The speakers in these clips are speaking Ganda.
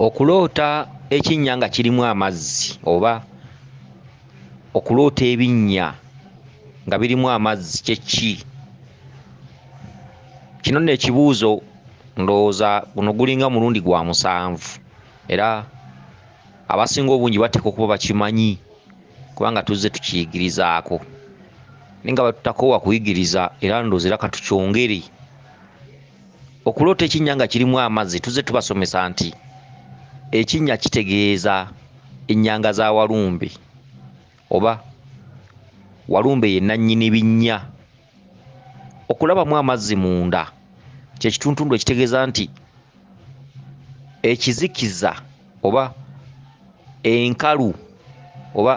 okuloota ekinnya nga kirimu amazzi oba okuloota ebinnya nga birimu amazzi kyeki kino nno ekibuuzo ndowooza guno gulinga mulundi gwa musanvu era abasinga obungi bateeka okuba bakimanyi kubanga tuzze tukiyigirizaako naye nga batutakoowa kuyigiriza era ndowooza era katukyongere okuloota ekinnya nga kirimu amazzi tuze tubasomesa nti ekinnya kitegeeza ennyanga za walumbe oba walumbe ye nannyini binnya okulabamu amazzi munda kyekituntundu ekitegeeza nti ekizikiza oba enkalu oba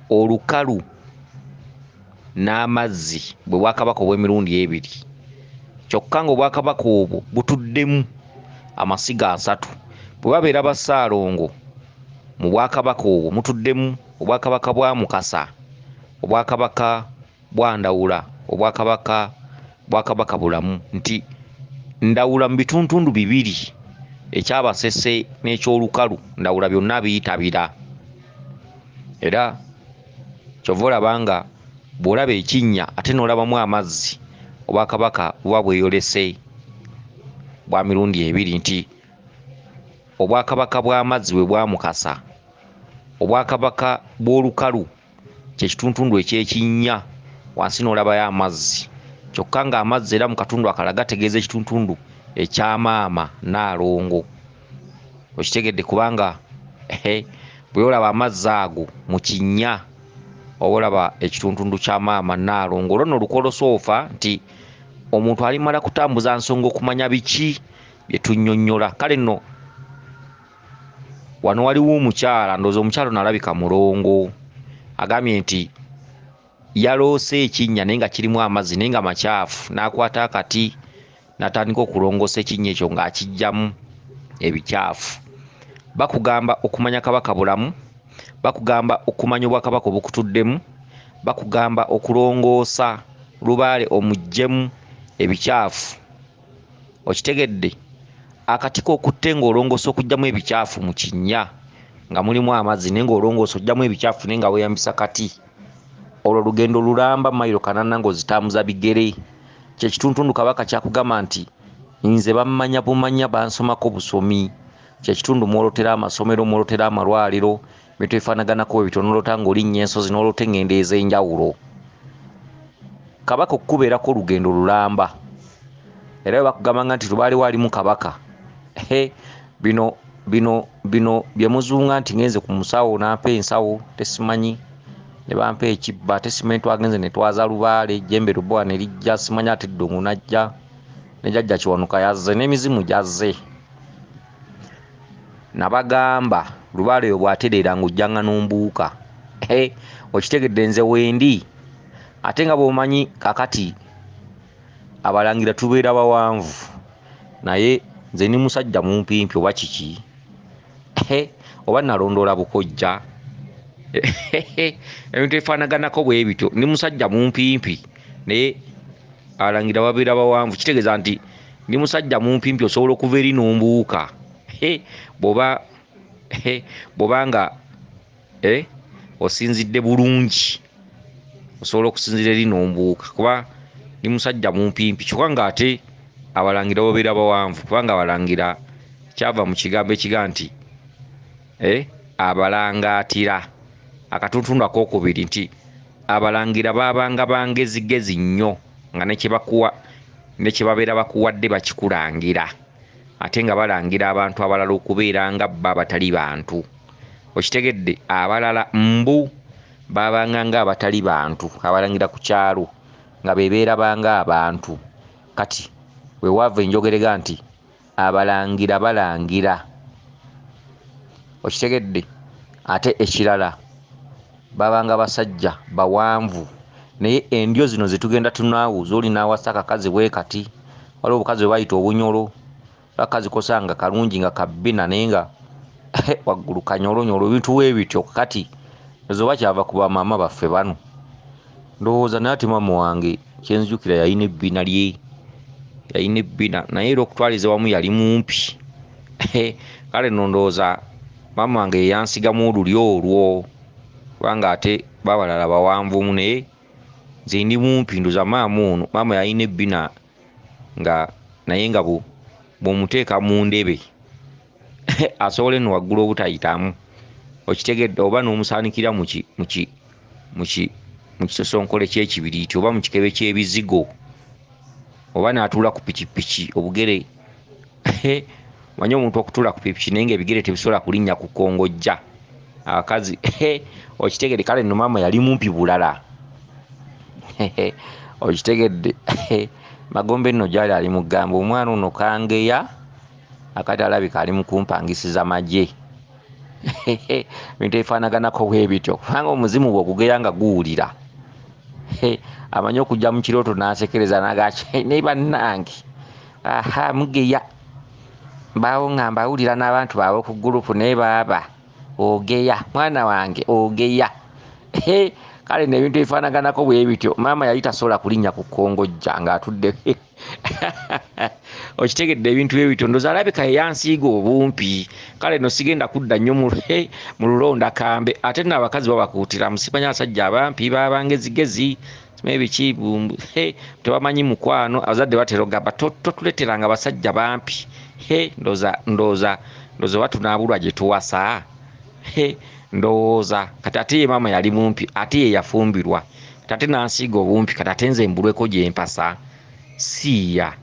olukalu n'amazzi bwe bwakabaka obw'emirundi ebiri kyokka ng'obwakabaka obwo butuddemu amasiga asatu bwe babeera ba Ssaalongo mu bwakabaka obwo mutuddemu obwakabaka bwa Mukasa obwakabaka bwandawula obwakabaka bwakabaka bulamu nti ndawula mu bituntundu bibiri ekyabasese n'ekyolukalu ndawula byonna biyitabira era kyova olaba nga bw'olaba ekinnya ate n'olabamu amazzi obwakabaka buba bweyolese bwa mirundi ebiri nti obwakabaka bw'amazzi bwe bwamukasa obwakabaka bw'olukalu kyekituntundu ekyekinnya wansi n'olabayo amazzi kyokka ng'amazzi era mu katundu akala gategeeza ekituntundu ekyamaama naalongo okitegedde kubanga bweolaba amazzi ago mu kinnya oba olaba ekituntundu kya maama naalongo olwo no olukolosoofa nti omuntu alimala kutambuza nsonga okumanya biki bye tunnyonnyola kale nno wano waliwo omukyala ndooza omukyala ono alabika mulongo agambye nti yaloose ekinnya naye nga kirimu amazzi naye nga makyafu n'akwata akati natandika okulongoosa ekinnya ekyo ng'akijjamu ebikyafu bakugamba okumanya kabaka bulamu bakugamba okumanya obwakabaka obukutuddemu bakugamba okulongoosa lubaale omuggyemu ebikyafu okitegedde akatiko okutte ng'olongoosa okugyamu ebikyafu mu kinnya nga mulimu amazzi naye ng'olongoosa ogyamu ebikyafu naye nga weyambisa kati olwo olugendo lulamba mayiro kanana ng'ozitambuza bigere kyekituntundu kabaka kyakugamba nti nze bammanya bumanya bansomako busomi kyekitundu mwolotera amasomero mwolotera amalwaliro bintu bifanaganako bwe bityo nolota ng'olinnya ensozi nolota engendo ez'enjawulo kabaka okukubeerako olugendo lulamba era bwe bakugambanga nti lubaali waalimu kabaka he bino bino bino bye muzunga nti ngenze ku musawo nampa ensawo tesimanyi ne bampa ekibba ate simanyi twagenze ne twaza lubaale jembe lubowa ne lijja simanyi ate ddungu najja ne jajja kiwanuka yazze n'emizimu gyazze nabagamba lubaale yo bwatereera nga ojjanga nombuuka okitegedde nze wendi ate nga bwomanyi kakati abalangira tubeera bawanvu naye nze ni musajja mumpimpi oba kiki oba nalondoola bukojja ebintu ebifaanaganako bwe bityo ndi musajja mumpimpi naye abalangira babeera bawanvu kitegeeza nti ndi musajja mumpimpi osobola okuva eri nombuuka bwoba bwoba nga eh, osinzidde bulungi osobola okusinzira eri nombuuka kuba ndi musajja mumpimpi kyokka nga ate abalangira babeera bawanvu kubanga abalangira kyava mu kigambo ekiga nti Eh, abalangaatira, akatuntundu ak'okubiri nti abalangira baabanga ba ngezigezi nnyo nga ne kye bakuwa ne kye babeera bakuwadde bakikulangira ate nga balangira abantu abalala okubeera nga bo abatali bantu okitegedde abalala mbu baabanga nga abatali bantu abalangira ku kyalo nga bebeerabanga abantu kati wewaava enjogerega nti abalangira balangira okitegedde ate ekirala babanga basajja bawanvu naye endyo zino zetugenda tunaawo zoli naawasa akakazi bwe kati waliwo obukazi bwe bayita obunyolo bakazi kosanga kalungi nga kabbina naye nga waggulu kanyolonyolo ebintu webityo kati ezo bakyava ku bamaama baffe bano ndowooza naye ate maama wange kyenzijukira yalina ebbina lye yalina ebbina naye era okutwaliza wamu yali mumpi kale no ndowooza maama wange yeyansigamu oluli olwo kubanga ate babalala bawanvumu naye nze ndi mumpi ndoza maama ono maama yalina ebbina nga naye nga bwomuteeka mu ndebe asobola eno waggulu obutayitamu okitegedde oba n'omusaanikira mu kisosonkole ky'ekibiriiti oba mu kikebe ky'ebizigo oba n'atuula ku pikipiki obugere manye omuntu okutuula ku pikipiki naye nga ebigere tebisobola kulinnya ku kongojja abakazi okitegedde kale no maama yali mumpi bulala okitegedde magombe nno gyali ali mugamba omwana ono kangeya akati alabika ali mukumpangisiza magye bintu ebifanaganako bwebityo kubanga omuzimu bwe ogugera nga guwulira amanyi okujja mu kirooto n'asekereza nagaki ne bannange aha mugeya mbaawo nga mbawulira n'abantu baabwe ku gurupu naye baaba ogeya mwana wange ogeya kale nebintu ebifanaganako bwebityo maama yali tasobola kulinnya ku kongojja ng'atudde okitegedde ebintu bye bitondoza alabika eyansiiga obumpi kale no sigenda kudda nnyo mu lulonda kambe ate no abakazi babakuutira musimanya abasajja abampi babangezigezi mebiki tebamanyi mukwano abazadde baterogamba totuleteranga abasajja bampi ndoza ndoza ndoza oba tunaabulwa gye tuwasa He, ndowooza kati ate ye maama yali mumpi ate ye yafumbirwa kati ate nansiiga obumpi kati ate nze mbulweko gye mpasa siiya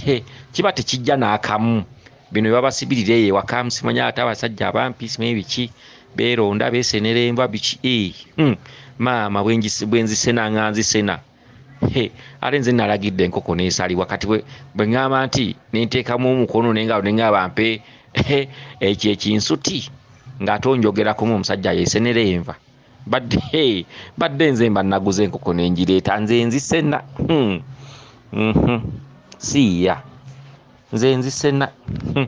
He, kiba tekijja n'akamu bino bebabasibirira eyo ewaka simanya ate abasajja abampi simanyi biki beeronda beesenera enva biki ee, hmm, maama bwe nzisena nga nzisena. He, ate nze nalagidde enkoko nesalibwa kati bwe bwe ŋŋamba nti nenteekamu omukono nengalo nengaba mpe he, ekyo ekinsuti ng'ate onjogerakumu omusajja yesenera enva badde he, badde nze mba naguza enkoko nengireeta nze nzisena hmm. mm -hmm. siiya nze nzisena hmm.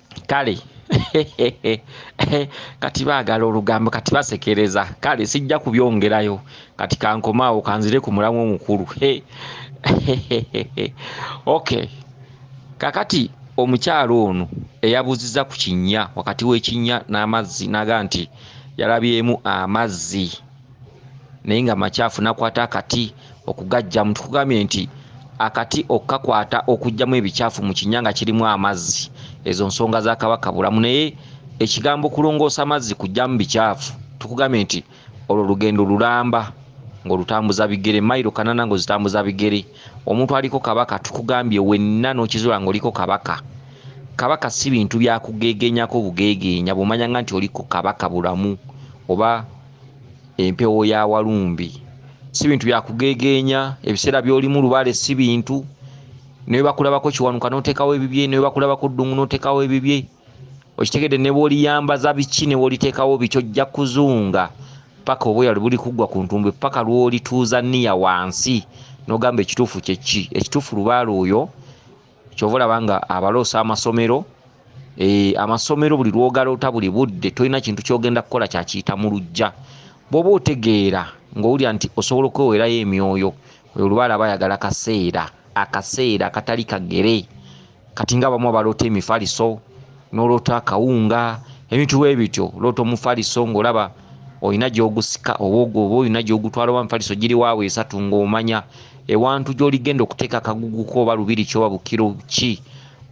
kale kati baagala olugambo kati basekereza kale sijja kubyongerayo kati kankomaawo kanzire ku mulamu omukulu ok kakati omukyalo ono eyabuziza ku kinnya wakati w'ekinnya n'amazzi naga nti yalabyemu amazzi naye nga makyafu nakwata akati okugajjamu tukugambye nti akati okukakwata okugjamu ebikyafu mu kinya nga kirimu amazzi ezo nsonga za kabaka bulamu naye ekigambo kulongoosa mazzi kugjamu bikyafu tukugambye nti olwo lugendo lulamba ngaolutambuza bigere mailo kanana ngaozitambuza bigere omuntu aliko kabaka tukugambye wenna nokizula ngaoliko kabaka kabaka si bintu byakugegenyako bugegeenya bumanyanga nti oliko kabaka bulamu oba empewo ya walumbe si bintu byakugegeenya ebiseera byolimu lubaale si bintu newebakulabako kiwanuka notekawo ebibye newebakulabako ddungu notekawo ebibye okitegedde nebwoliyambaza biki newolitekawo biki ojja kuzunga paka obweyali buli kuggwa ku ntumbwe paka lwolituuza niya wansi nogamba ekituufu kyeki ekituufu lubaale oyo kyova olaba nga abaloosa amasomero eh, amasomero buli lwogaloota buli budde tolina kintu kyogenda kukola kyakiyita mu lujja bwoba otegeera ngaowulira nti osobola okwewerayo emyoyo oyo lubaala aba ayagala kaseera akaseera akatali kagere kati nga abamu abaloota emifaliso noloota akawunga ebintu bwebityo loota omufaliso ngaolaba olina gyogusika oba oba olina gyogutwala oba mufaliso giri waawo esatu ngaomanya ewantu gyoligenda okuteeka akaguguko oba lubiri kyoba bukiro ki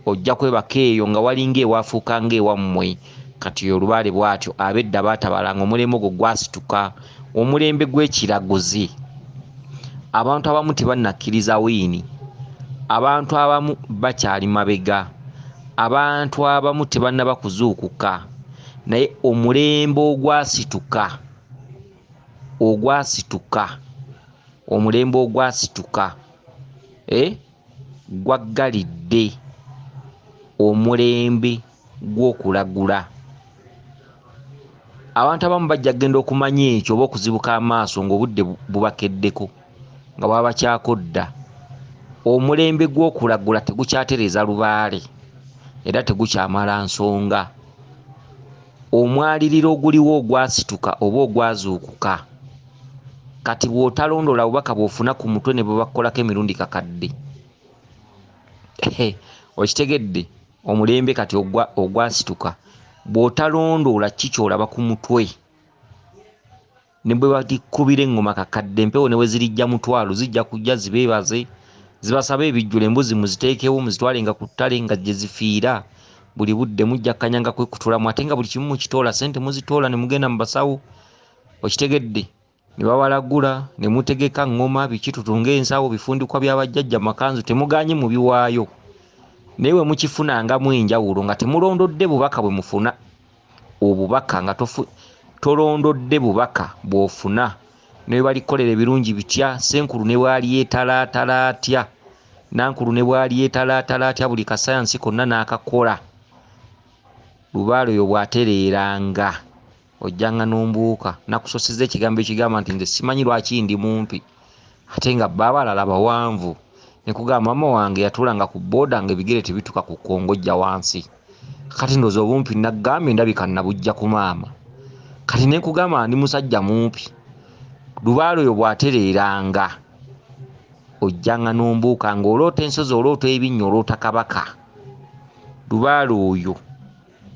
ojja kwebaka eyo nga walinga ewafuuka ngaewammwe kati olubaale bwatyo abedda baatabalanga omulembe ogwo gwasituka omulembe gw'ekiraguzi abantu abamu tebanakkiriza wiini abantu abamu bakyali mabega abantu abamu tebannaba kuzuukuka naye omulembe ogwasituka ogwasituka omulembe ogwasituka eh, gwaggalidde omulembe gw'okulagula. Abantu abamu bajja kugenda okumanya ekyo oba okuzibuka amaaso ng'obudde bubakeddeko nga baba bakyako dda. Omulembe gw'okulagula tegukyatereeza lubaale era tegukyamala nsonga. Omwaliriro oguliwo ogwasituka oba ogwazuukuka kati bw'otalondoola bubaka bw'ofuna ku mutwe ne bwe bakukolako emirundi kakadde. Okitegedde? omulembe kati ogwasituka bw'otalondoola ki ky'olaba ku mutwe ne bwe bagikkubira eŋŋoma kakadde empewo ne bwe zirijja mutwalo zijja kujja zibeebaze zibasaba ebijjula embuzi muziteekewo muzitwale nga ku ttale nga gye zifiira buli budde mujja kanyanga kwekutulamu ate nga buli kimu mukitoola sente muzitoola ne mugenda mu basawo okitegedde ne bawalagula ne mutegeka ŋŋoma biki tutunge ensawo bifundikwa bya bajjajja makanzu temugaanye mubiwaayo naye bwe mukifunangamu enjawulo nga temulondodde bubaka bwe mufuna obubaka nga tofu, tolondodde bubaka bw'ofuna ne bwe balikolera ebirungi bitya senkulu ne bwalyetalaatala atya nankulu ne bwalyetalaatala atya buli kasayansi konna n'akakola lubaale oyo bw'atereeranga ojjanga nombuuka nakusosiza ekigambo ekigamba nti nze simanyi lwaki ndi mumpi ate nga bba abalala bawanvu nekugamba mama wange yatulanga ku boda nga ebigere tebituka ku kongojja wansi kati ndoza obumpi nagambye ndabika nabujja ku maama kati nekugamba ndi musajja mumpi lubaalo oyo bwatereeranga ojjanga nombuuka nga oloota ensozi oloota ebinnya oloota kabaka lubaalo oyo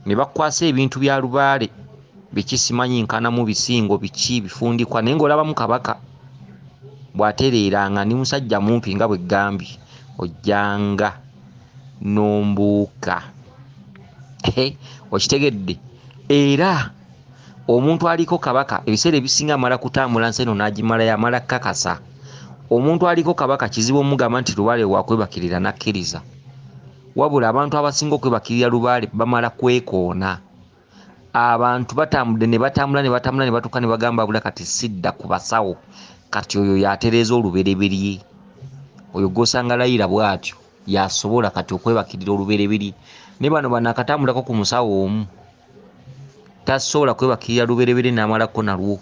ne bakwasa ebintu bya lubaale biki simanyi nkanamu bisingo biki bifundikwa naye ngaolabamu kabaka bwatereeranga ndi musajja mumpi nga bwe gambye ojjanga nombuuka okitegedde era omuntu aliko kabaka ebiseera ebisinga amala kutambula nsi eno n'agimalayo amala kukakasa omuntu aliko kabaka kizibu omugamba nti lubaale wakwebakirira nakkiriza Wabula abantu abasinga okwebakirira lubaale bamala kwekoona. Abantu batambudde ne batambula ne batambula ne batuuka ne bagamba abula kati sidda ku basawo. Kati oyo y'atereeza olubereberye. Oyo gw'osanga layira bw'atyo y'asobola kati okwebakirira olubereberye. Naye bano banaakatambulako ku musawo omu tasobola kwebakirira lubereberye n'amalako nalwo.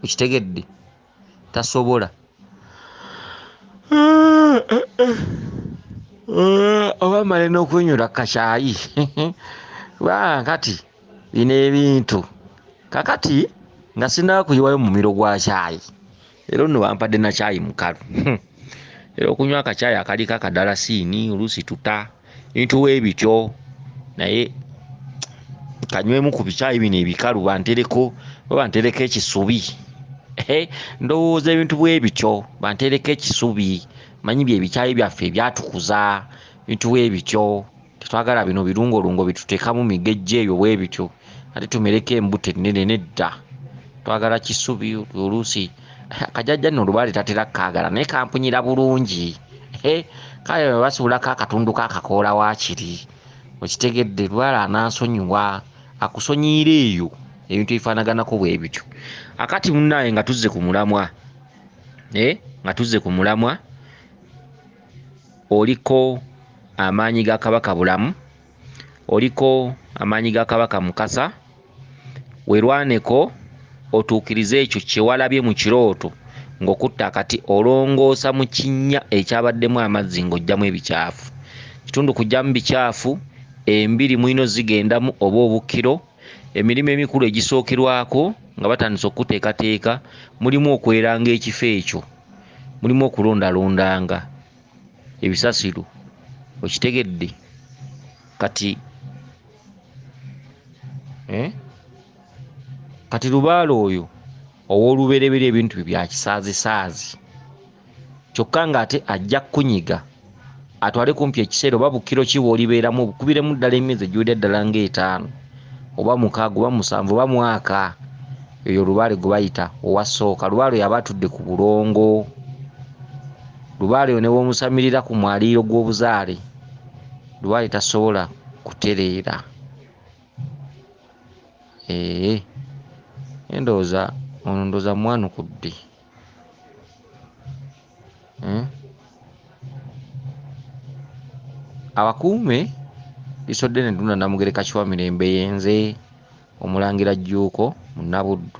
Okitegedde? tasobola oba male n'okunyura kukakyayi kubanga kati bino ebintu kakati nga sinakuyiwayo mumiro gwa kyayi era ono wampadde nakyayi mukalu era okunywa akacaayi akaliko akadalasiini oluusi tuta ebintu webityo naye kanywemu ku bicaayi bino ebikalu bantereko oba bantereko ekisubi Ehe, ndowooza ebintu bwebityo bantereko ekisubi manyi byebicaayi byaffe ebyatukuza ebintu bwebityo tetwagala bino birungolungo bituteekamu migejja ebyo bwe bityo ate tumereko embuto ennene nedda twagala kisubi oluusi akajajja nno olubaale tatera kukaagala naye kampunyira bulungi kale basibulako akatundu kakakoola waakiri okitegedde lubaale anansonyiwa akusonyiira eyo ebintu ebifaanaganako bwe bityo akati munnaaye nga tuzze ku mulamwa eh, nga tuzze ku mulamwa oliko amaanyi ga Kabaka Bulamu, oliko amaanyi ga Kabaka Mukasa, werwaneko otuukirize ekyo kye walabye mu kirooto ng'okutte akati olongoosa mu kinnya ekyabaddemu amazzi ng'oggyamu ebicaafu. Kitundu kuggyamu bicaafu, embiri mulino zigendamu oba obukkiro, emirimu emikulu egisookerwako nga batandise okukuteekateeka mulimu okweranga ekifo ekyo. mulimu okulondalondanga ebisasiro okitegedde kati eh? kati lubaale oyo ow'olubereberye ebintu bye byakisaazisaazi kyokka ng'ate ajja kukunyiga atwale kumpi ekiseera oba bukkiro ki bw'olibeeramu obukubiremu ddala emyezi egiwedde ddala ng'etaano oba mukaaga oba musanvu oba mwaka eyo lubaale gwe bayita owa sooka lubaale oyo aba atudde ku bulongo lubaale oyo ne bw'omusamirira ku mwaliiro gw'obuzaale lubaale tasobola kutereera ee endowooza ono ndowooza mwanukudde hmm? abakuume isodde ne duna namugereka kiwa mirembe yenze omulangira jjuuko munabuddu